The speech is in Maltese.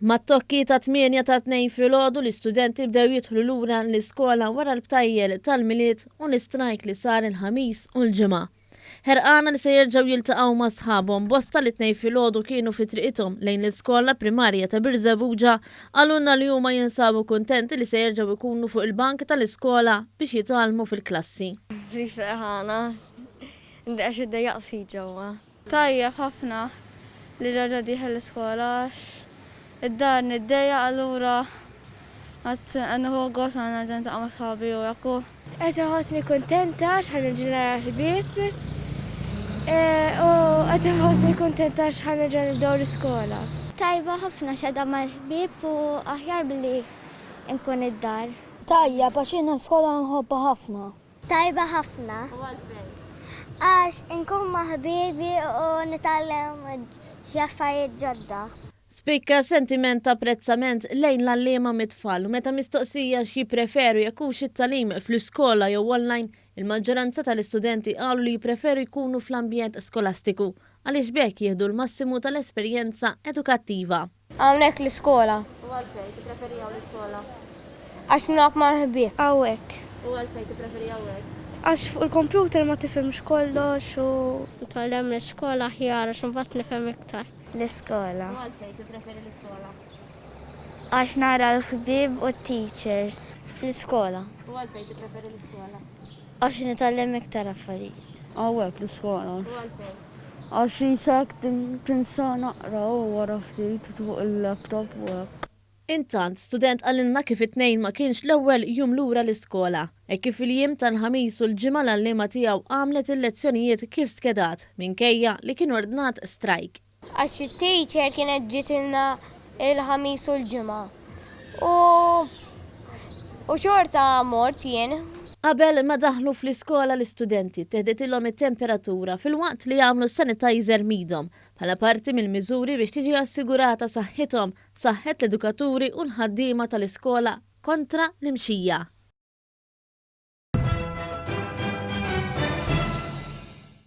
Mat-tokki ta' tmienja ta' tnejn filgħodu l-istudenti bdew jidħlu lura l-iskola wara l-btajjel tal-Milied u l-istrajk li sar il-Ħamis u l-Ġimgħa. Ħerqana li se jerġgħu jiltaqgħu ma' sħabhom, bosta li t-Tnejn filgħodu kienu fi triqithom lejn l-iskola primarja ta' Birżebbuġa qalulna li huma jinsabu kuntenti li se jerġgħu jkunu fuq il-bank tal-iskola biex jitgħallmu fil-klassi. Ftit ferħana. Inti għax iddejjaq ftit ġewwa. Tajjeb ħafna li reġa' dieħel l-iskola għax id-dar niddejjaq allura qed nieħu gost meta nerġa' niltaqa' ma' sħabi u hekk u. Qed inħossni kuntenta għax ħa nerġa' nara l-ħbieb u qed inħossni kuntenta għax ħa nerġa' nibdew l-iskola. Tajba ħafna għax qiegħda mal-ħbieb u aħjar milli nkun id-dar. Tajjeb għax jiena l-iskola nħobbha ħafna. Tajba ħafna. U għalfejn? Għax inkun ma' ħbibi u nitgħallem xi affarijiet ġodda. Spikka sentiment ta' apprezzament lejn l-għalliema mit-tfal u meta mistoqsija x'jippreferu jekk hux it-tagħlim fl-iskola jew online, il-maġġoranza tal-istudenti qalu li jippreferu jkunu fl-ambjent skolastiku għaliex b'hekk jieħdu l-massimu tal-esperjenza edukattiva. Hawnhekk l-iskola. U għalfejn tippreferi hawn l-iskola? Għax nilgħab mal-ħbieb. Hawnhekk. U għalfejn tippreferi hawnhekk? Għax fuq il-kompjuter ma tifhimx kollox u. Nitgħallem l-iskola aħjar għax imbagħad nifhem iktar. L-iskola. U għalfejn tippreferi l-iskola? Għax nara l-ħbieb u t-teachers. L-iskola. U għalfejn tippreferi l-iskola? Għax nitgħallem iktar affarijiet. Hawnhekk l-iskola. U għalfejn? Għax isa hekk tinsa naqra u wara ftit fuq il-laptop u hekk. Intant, student qalilna kif it-Tnejn ma kienx l-ewwel jum lura l-iskola. Hekk kif fil-jiem tal-Ħamis u l-Ġimgħa l-għalliema tiegħu għamlet il-lezzjonijiet kif skedat, minkejja li kien ordnat strajk. Għax it-teacher kienet ġitilna il-Ħamis u l-Ġimgħa u u xorta mort jien. Qabel ma daħlu fl-iskola l-istudenti ttieħdetilhom it-temperatura filwaqt li għamlu sanitizer m'idhom bħala parti mill-miżuri biex tiġi assigurata saħħithom, saħħet l-edukaturi u l-ħaddiema tal-iskola kontra l-imxija.